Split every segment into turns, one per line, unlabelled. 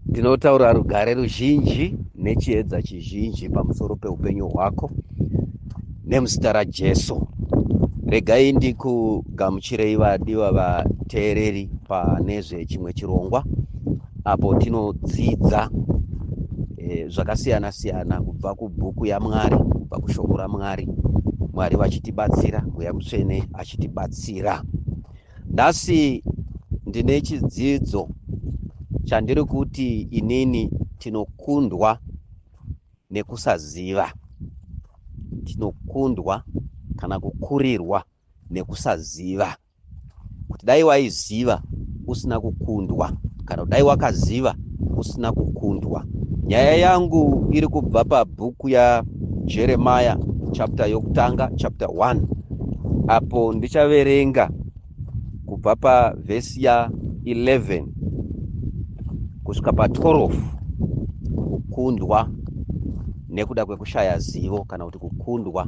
ndinotaura rugare ruzhinji nechiedza chizhinji pamusoro peupenyu hwako nemuzita rajesu regai ndikugamuchirei vadiwa vateereri pane zvechimwe chirongwa apo tinodzidza eh, zvakasiyana siyana kubva kubhuku yamwari kubva kushoko ramwari mwari vachitibatsira mweya mutsvene achitibatsira Nhasi ndine chidzidzo chandiri kuti inini tinokundwa nekusaziva. Tinokundwa kana kukurirwa nekusaziva. Kuti dai waiziva usina kukundwa. kana kudai wakaziva usina kukundwa nyaya yangu iri kubva pabhuku yajeremaya chapter yokutanga chapter 1 apo ndichaverenga kubva pavhesi ya 11 kusvika pa12 kukundwa nekuda kwekushaya zivo kana kuti kukundwa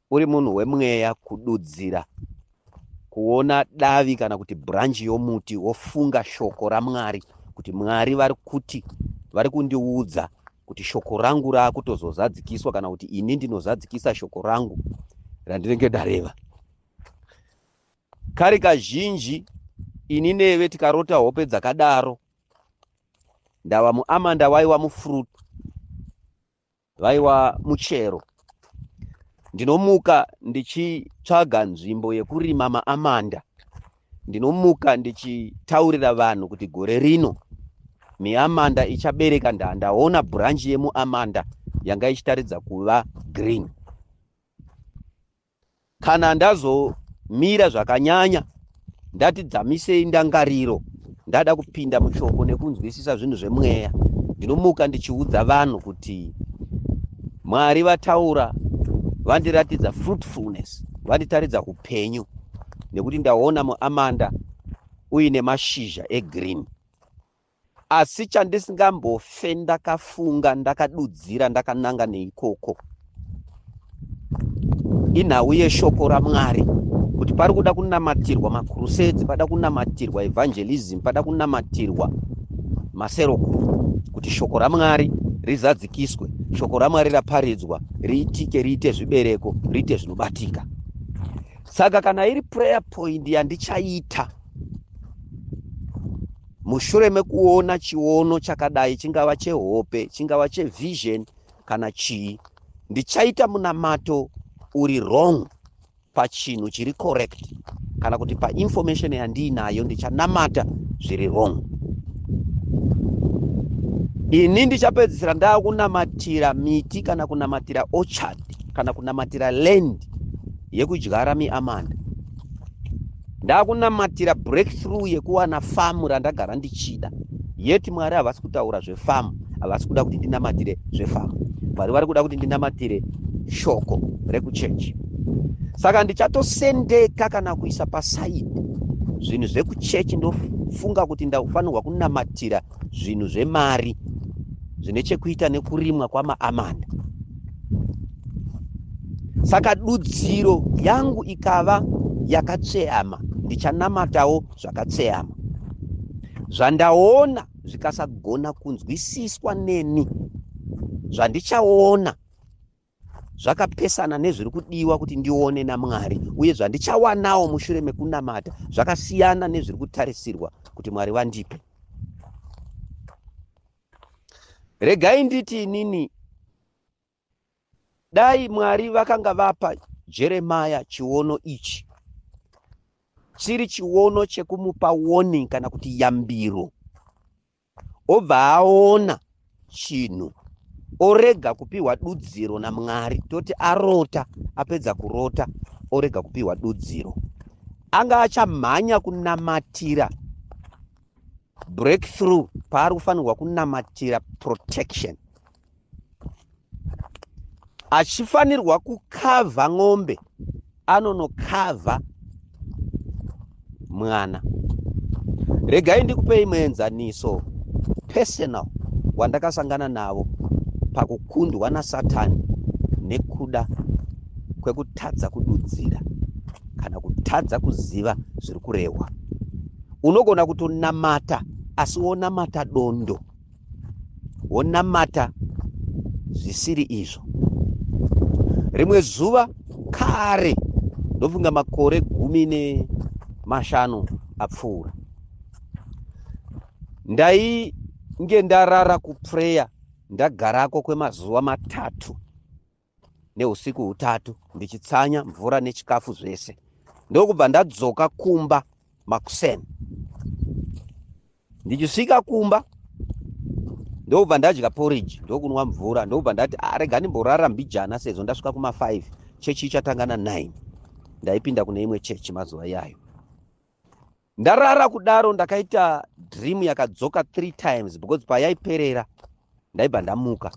uri munhu wemweya kududzira kuona davi kana kuti branch yomuti wofunga shoko ramwari kuti mwari vari kuti vari kundiudza kuti shoko rangu raakutozozadzikiswa kana kuti ini ndinozadzikisa shoko rangu randinenge ndareva kari kazhinji ini neve tikarota hope dzakadaro ndava muamanda waiwa mufruit Vaiwa muchero. Ndinomuka ndichitsvaga nzvimbo yekurima maamanda. Ndinomuka ndichitaurira vanhu kuti gore rino miamanda ichabereka ndaa ndaona branch yemuamanda yanga ichitaridza kuva green. Kana ndazomira zvakanyanya ndati dzamisei ndangariro ndada kupinda mushoko nekunzwisisa zvinhu zvemweya ndinomuka ndichiudza vanhu kuti mwari vataura vandiratidza fruitfulness vanditaridza upenyu nekuti ndaona muamanda uine mashizha egreen Asi chandisingambofe ndakafunga ndakadudzira ndakananga neikoko inhau yeshoko ramwari kuti pari kuda kunamatirwa makurusedzi pada kunamatirwa evangelism pada kunamatirwa maserokuru kuti shoko ramwari rizadzikiswe shoko ramwari raparidzwa riitike riite zvibereko riite zvinobatika saka kana iri prayer point yandichaita Mushure mekuona chiono chakadai, chingava chehope, chingava chevision kana chii, ndichaita munamato uri wrong pachinhu chiri correct kana kuti painformation yandiinayo ndichanamata zviri wrong. Ini ndichapedzisira ndava kunamatira miti kana kunamatira orchard kana kunamatira land yekudyara miamanda. ndakunamatira breakthrough yekuwana famu randagara ndichida yet mwari havasi kutaura zvefamu havasi kuda kuti ndinamatire zvefamu mwari vari kuda kuti ndinamatire shoko rekuchechi saka ndichatosendeka kana kuisa pasaidi zvinhu zvekuchechi ndofunga kuti ndafanirwa kunamatira zvinhu zvemari zvine chekuita nekurimwa kwamaamanda saka dudziro yangu ikava yakatsveyama ndichanamatawo zvakatsveyama zvandaona zvikasagona kunzwisiswa neni zvandichaona zvakapesana nezviri kudiwa kuti ndione naMwari uye zvandichawanawo mushure mekunamata zvakasiyana nezviri kutarisirwa kuti Mwari vandipe. Regai nditi inini dai Mwari vakanga vapa Jeremia chiono ichi chiri chiono chekumupa warning kana kuti yambiro obva aona chinhu orega kupiwa dudziro namwari toti arota apedza kurota orega kupiwa dudziro anga achamhanya kunamatira breakthrough paari kufanirwa kunamatira protection achifanirwa kukavha n'ombe anonokavha mwana regai ndikupei muenzaniso personal wandakasangana navo pakukundwa nasatani nekuda kwekutadza kududzira kana kutadza kuziva zviri kurehwa unogona kutonamata asi wonamata dondo wonamata zvisiri izvo. Rimwe zuva kare, ndofunga makore gumi nemashanu apfuura, ndainge ndarara kupreya ndagarako kwemazuva matatu neusiku hutatu ndichitsanya mvura nechikafu zvese ndokubva ndadzoka kumba makuseni ndichisvika kumba ndokubva ndadya porridge ndokunwa mvura ndokubva ndati arega ah, ndimborara mbijana sezvo ndasvika kuma5 chechi ichatanga na9 ndaipinda kune imwe chechi mazuva iyayo ndarara kudaro ndakaita dream yakadzoka three times because payaiperera ndaibva ndamuka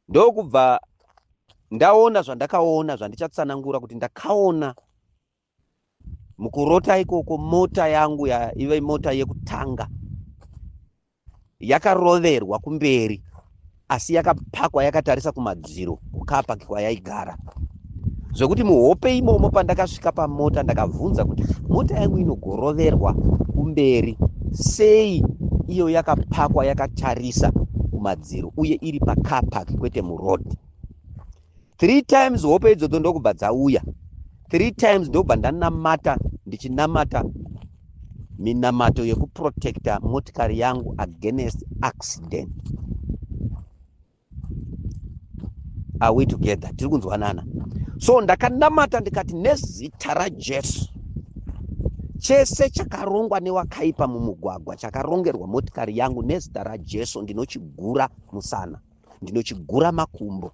ndokubva ndaona zvandakaona zvandichatsanangura kuti ndakaona mukurota ikoko mota yangu yaiva imota yekutanga yakaroverwa kumberi asi yakapakwa yakatarisa kumadziro kukapaki kwayaigara zvekuti muhope imomo pandakasvika pamota ndakabvunza kuti mota yangu inogoroverwa kumberi sei iyo yakapakwa yakatarisa kumadziro uye iri pacarpark kwete muroad three times hope idzodzo ndokubva dzauya three times ndokubva ndanamata ndichinamata minamato yekuprotecta motikari yangu against accident are we together tiri kunzwanana so ndakanamata ndikati nezita rajesu chese chakarongwa newakaipa mumugwagwa chakarongerwa motikari yangu nezita rajesu ndinochigura musana ndinochigura makumbo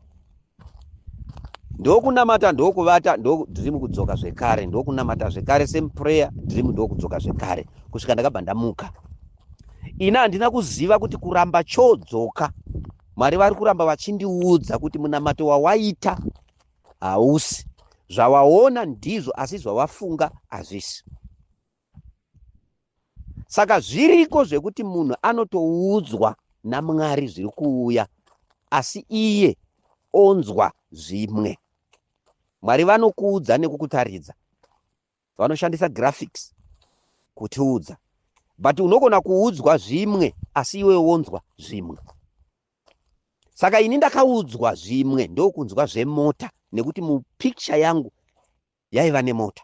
ndokunamata ndokuvata ndodream kudzoka zvekare ndokunamata zvekare same prayer dream ndokudzoka zvekare kusvika ndakabva ndamuka ini handina kuziva kuti kuramba chodzoka mwari vari kuramba vachindiudza kuti munamato wawaita hausi zvawaona ndizvo asi zvawafunga hazvisi saka zviriko zvekuti munhu anotoudzwa namwari zviri kuuya asi iye onzwa zvimwe mwari vanokuudza nekukutaridza vanoshandisa graphics kutiudza but unogona kuudzwa zvimwe asi iwe wonzwa zvimwe saka ini ndakaudzwa zvimwe ndokunzwa zvemota nekuti mupicture yangu yaiva nemota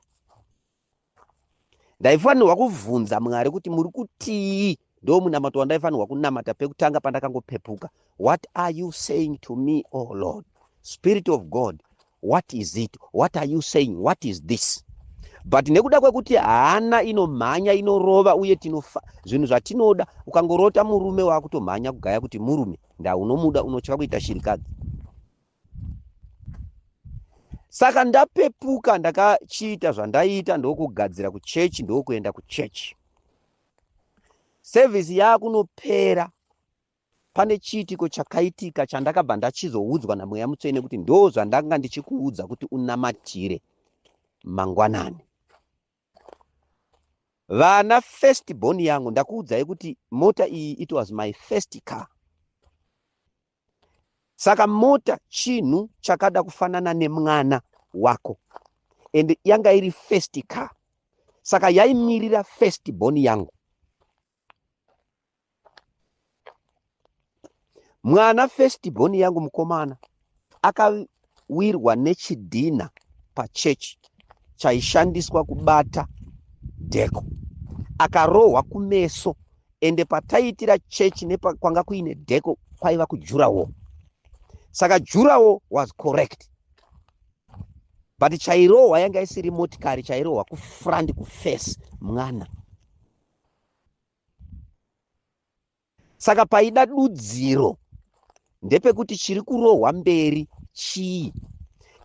ndaifanirwa kuvhunza mwari kuti muri kutii ndo munamato wandaifanirwa kunamata pekutanga pandakangopepuka what are you saying to me o oh lord spirit of god what is it what are you saying what is this but nekuda kwekuti hana inomhanya inorova uye tinofa zvinhu zvatinoda ukangorota murume waakutomhanya kugaya kuti murume ndaunomuda unotya kuita shirikadzi saka ndapepuka ndakachiita zvandaiita ndokugadzira kuchechi ndokuenda kuchechi sevhisi yaakunopera pane chiitiko chakaitika chandakabva ndachizoudzwa namweya mutsvene kuti ndo zvandanga ndichikuudza kuti unamatire mangwanani vana first born yangu ndakuudzai kuti mota iyi it was my first car Saka mota chinhu chakada kufanana nemwana wako and yanga iri first car, saka yaimirira first born yangu. Mwana first born yangu mukomana aka akawirwa nechidhinha pachechi chaishandiswa kubata dheko akarohwa kumeso ende pataiitira chechi nepakwanga kuine dheko kwaiva kujurawo saka jurawo was correct but chairohwa yanga isiri motikari chairohwa kufront kufesi mwana Saka paida dudziro ndepekuti chiri kurohwa mberi chii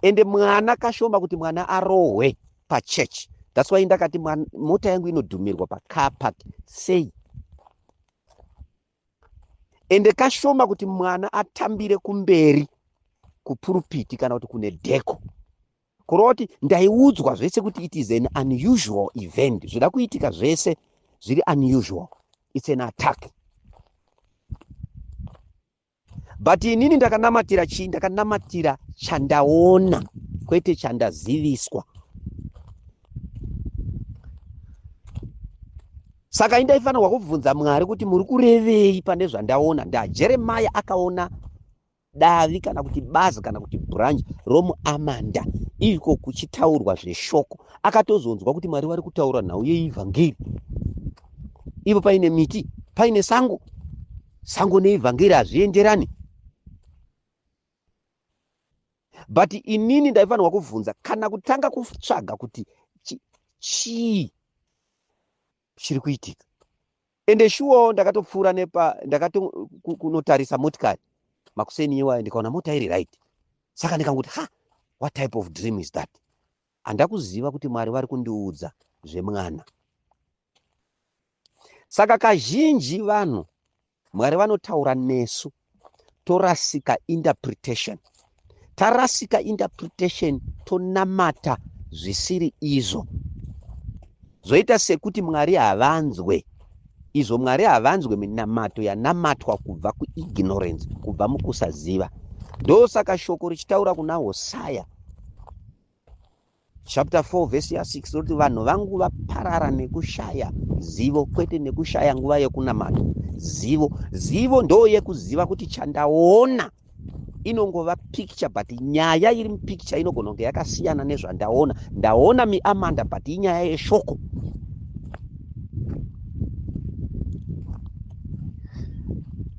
ende mwana kashoma kuti mwana arohwe pachurch thats why ndakati mota yangu inodhumirwa pacar park sei ende kashoma kuti mwana atambire kumberi kupurupiti kana kuti kune dheko kurova kuti ndaiudzwa zvese kuti it is an unusual event zvida kuitika zvese zviri unusual its an attack but inini ndakanamatira chii ndakanamatira chandaona kwete chandaziviswa saka indaifanirwa kubvunza mwari kuti muri kurevei pane zvandaona ndajeremaya akaona davi kana kuti bazi kana kuti branch romuamanda iko kuchitaurwa zveshoko akatozonzwa kuti mwari vari kutaura nhau yeivhangeri ivo paine miti paine sango sango neivhangeri hazvienderani but inini ndaifanirwa kubvunza kana kutanga kutsvaga kuti chii chiri kuitika ende shuwawo ndakatopfuura nepa ndakatokunotarisa motikari makuseni iwayo ndikaona mota iri right saka ndikanguti ha what type of dream is that handakuziva kuti mwari vari kundiudza zvemwana saka kazhinji vanhu Mwari vanotaura nesu torasika interpretation. Tarasika interpretation tonamata zvisiri izvo. Zvoita sekuti Mwari havanzwe izvo Mwari havanzwe minamato yanamatwa kubva kuignorance, kubva mukusaziva. Ndosaka shoko richitaura kuna Hosaya Chapter 4 verse ya 6 roti vanhu vangu vaparara nekushaya zivo kwete nekushaya nguva yekunamata zivo zivo ndo yekuziva kuti chandaona inongova picture but nyaya iri mupicture inogona kunge yakasiyana nezvandaona ndaona miamanda but inyaya yeshoko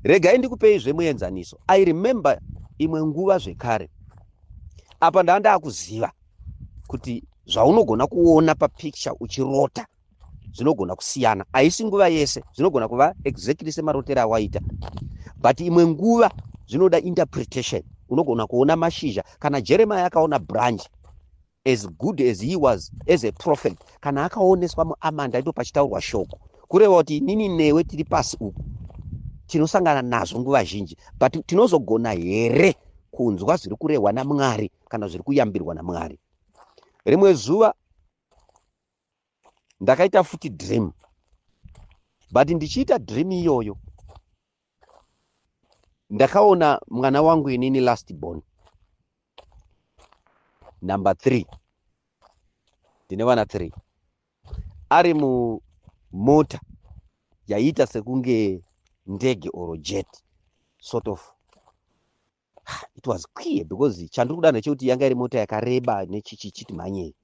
regai ndikupei zvemuenzaniso i remember imwe nguva zvekare apa ndava ndaakuziva kuti zvaunogona kuona papicture uchirota zvinogona kusiyana haisi nguva yese zvinogona kuva exactly semarotero awaita but imwe nguva zvinoda interpretation unogona kuona mashizha kana jeremiya akaona branch as good as he was as a prophet kana akaoneswa muamanda ndipo pachitaurwa shoko kureva kuti inini newe tiri pasi uku tinosangana nazvo nguva zhinji but tinozogona here kunzwa zviri kurehwa namwari kana zviri kuyambirwa namwari rimwe zuva ndakaita futi dream but ndichiita dream iyoyo ndakaona mwana wangu inini last born number three ndine vana three ari mumota yaiita sekunge ndege or jet sort of it was clear because chandiri kuda ndechekuti yanga iri mota yakareba nechichichiti mhanyei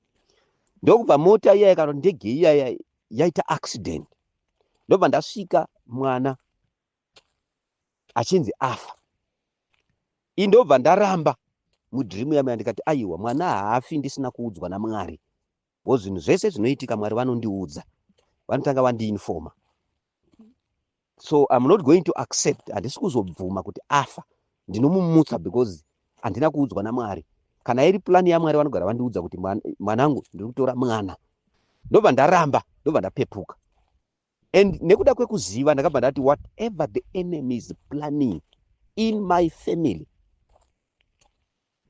ndokubva mota iyaya kana ndege iyaya yaita accident ndobva ndasvika mwana achinzi afa i ndobva ndaramba mudream yamaya ndikati aiwa mwana haafi ndisina kuudzwa namwari Because zvinhu zvese zvinoitika Mwari vanondiudza. Vanotanga vandiinfoma. So I'm not going to accept handisi kuzobvuma kuti afa. Ndinomumutsa because handina kuudzwa naMwari. Kana iri plan yaMwari vanogara vandiudza kuti mwanangu ndiri kutora mwana. Ndobva ndaramba, ndobva ndapepuka. And nekuda kwekuziva ndakabva ndati whatever the enemy is planning in my family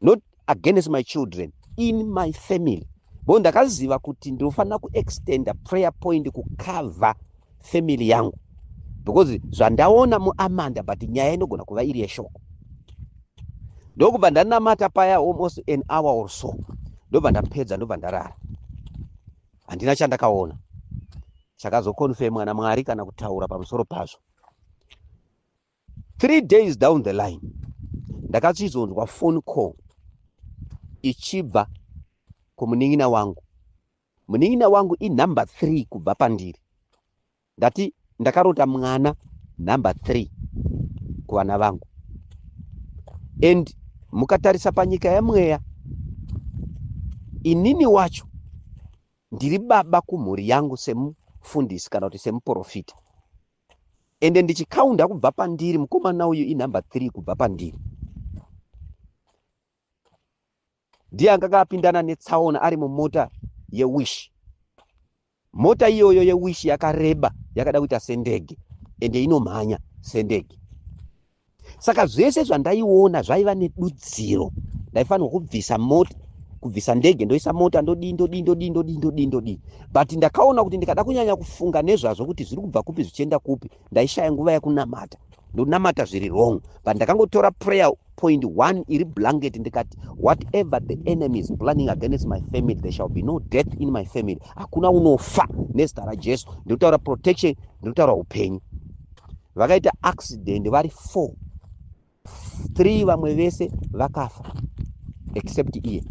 not against my children in my family bo ndakaziva kuti ndinofanira kuextenda prayer point kucover family yangu because zvandaona muamanda but nyaya inogona kuva iri yeshoko ndokubva ndanamata paya almost an hour or so ndobva ndapedza ndobva ndarara handina chandakaona chakazokonfemwa namwari kana kutaura pamusoro pazvo three days down the line ndakachizonzwa phone call ichibva kumunin'ina wangu munin'ina wangu inumber three kubva pandiri ndati ndakarota mwana number three kuvana vangu and mukatarisa panyika yemweya inini wacho Ndiri baba kumhuri yangu semufundisi kana kuti semuporofita ende ndichikaunda kubva pandiri mukomana uyu inumber three kubva pandiri ndiye anga akapindana netsaona ari mumota yewish mota iyoyo yewish yakareba yakada kuita sendege ende inomhanya sendege saka zvese zvandaiona zvaiva nedudziro ndaifanirwa kubvisa mota kubvisa ndege ndoisa mota ndodii ndodii ndodii ndodii ndodii ndodii but ndakaona kuti ndikada kunyanya kufunga nezvazvo kuti zviri kubva kupi zvichienda kupi ndaishaya nguva yekunamata ndonamata zviri wrong but ndakangotora prayer point one iri blanket ndikati whatever the enemy is planning against my family there shall be no death in my family hakuna unofa nezita rajesu ndinotaura protection ndinotaura upenyu vakaita accident vari four three vamwe vese vakafa except iye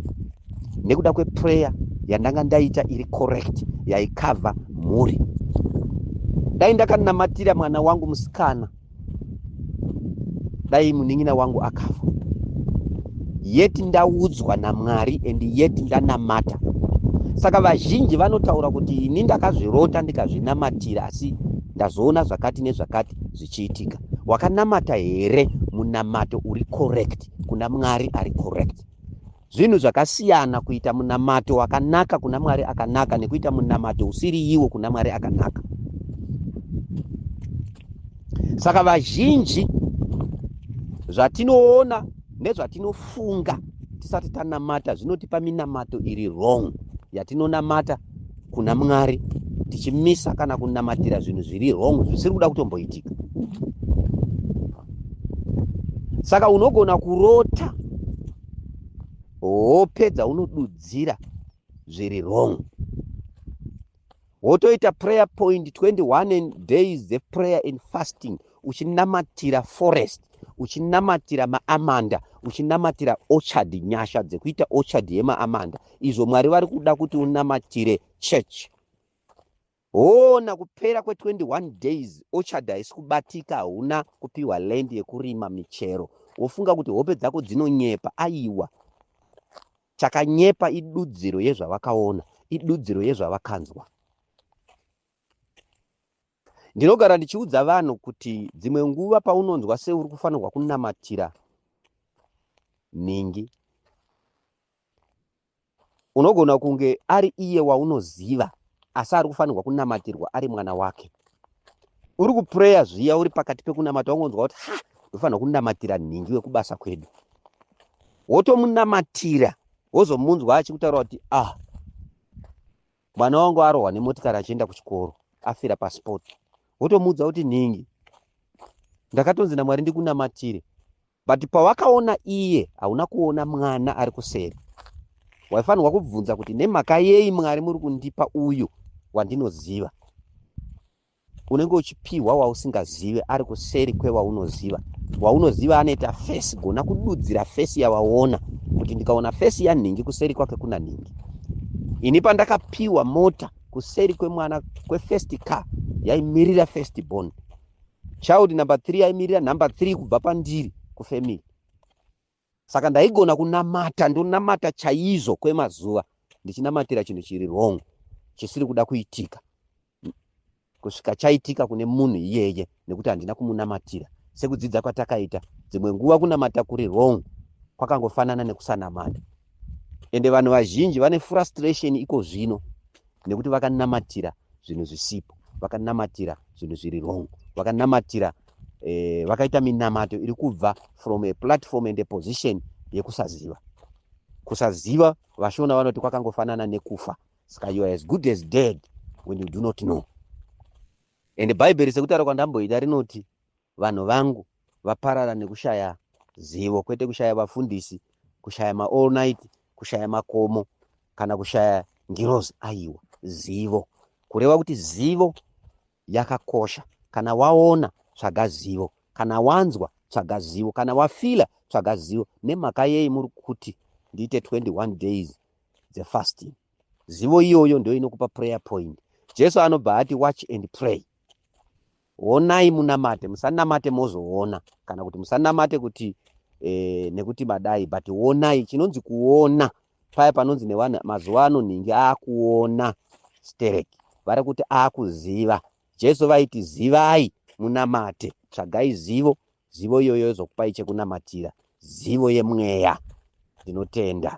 nekuda kweprayer yandanga ndaita iri correct yaikavha mhuri dai ndakanamatira mwana wangu musikana dai munin'ina wangu akafa yeti ndaudzwa namwari and yeti ndanamata saka vazhinji vanotaura kuti ini ndakazvirota ndikazvinamatira asi Ndazoona zvakati nezvakati zvichiitika. Wakanamata here munamato uri correct kuna Mwari ari correct? Zvinhu zvakasiyana kuita munamato wakanaka kuna Mwari akanaka nekuita munamato usiri iwo kuna Mwari akanaka. Saka vazhinji zvatinoona nezvatinofunga tisati tanamata zvinotipa minamato iri wrong yatinonamata kuna mwari tichimisa kana kunamatira zvinhu zviri wrong zvisiri kuda kutomboitika saka unogona kurota hope dzaunodudzira zviri wrong wotoita prayer point 21 days dzeprayer and fasting uchinamatira forest uchinamatira maamanda uchinamatira orchard nyasha dzekuita orchard yemaamanda izvo mwari vari kuda kuti unamatire church hoona kupera kwe21 days orchard haisi kubatika hauna kupiwa land yekurima michero wofunga kuti hope dzako dzinonyepa aiwa chakanyepa idudziro yezvavakaona idudziro yezvavakanzwa Ndinogara ndichiudza vanhu kuti dzimwe nguva paunonzwa seuri kufanirwa kunamatira nhingi, unogona kunge ari iye waunoziva asi ari kufanirwa kunamatirwa ari mwana wake. Uri kupureya zviya uri pakati pekunamata ungonzwa kuti ha ndofanirwa kunamatira nhingi wekubasa kwedu, wotomunamatira wozomunzwa achikutaura kuti ah mwana wangu arohwa nemotikari achienda kuchikoro afira pasport wotomuudza kuti nhingi ndakatonzi namwari ndikunamatire but pawakaona iye hauna kuona mwana ari kuseri waifanirwa kubvunza kuti nemhaka yei mwari muri kundipa uyu wandinoziva unenge uchipihwa wausingazive ari kuseri kwewaunoziva waunoziva anoita fesi gona kududzira fesi yavaona kuti ndikaona fesi yanhingi kuseri kwake kuna nhingi ini pandakapiwa mota kuseri kwemwana kwefirst car yaimirira first born child number three yaimirira number three kubva pandiri kufamily Saka ndaigona kunamata ndonamata chaizvo kwemazuva ndichinamatira chinhu chiri wrong chisiri kuda kuitika kusvika chaitika kune munhu iyeye nekuti handina kumunamatira sekudzidza kwatakaita dzimwe nguva kunamata kuri wrong kwakangofanana nekusanamata ende vanhu vazhinji vane frustration iko zvino nekuti vakanamatira zvinhu zvisipo vakanamatira zvinhu zviri wrong vakanamatira eh, vakaita minamato iri kubva from a platform and a position yekusaziva kusaziva vashona vanoti kwakangofanana nekufa saka you are as good as dead when you do not know and bhaibheri sekutaura kwandamboita rinoti Vanhu vangu vaparara nekushaya zivo kwete kushaya vafundisi, kushaya ma all night, kushaya makomo kana kushaya ngirozi aiwa zivo. Kureva kuti zivo yakakosha. Kana waona tsvaga zivo, kana wanzwa tsvaga zivo, kana wafila tsvaga zivo. Nemhaka yei muri kuti ndiite 21 days dzefasting? Zivo iyoyo ndio inokupa prayer point. Jesu anobva ati watch and pray. Honai munamate, musanamate mozoona, kana kuti musanamate kuti eh, nekuti madai but honai. Chinonzi kuona paya panonzi nevanhu mazuva ano nhingi akuona stereki, vari kuti akuziva. Jesu vaiti zivai munamate, tsvagai zivo, zivo iyoyo yozokupai chekunamatira, zivo yemweya. Ndinotenda.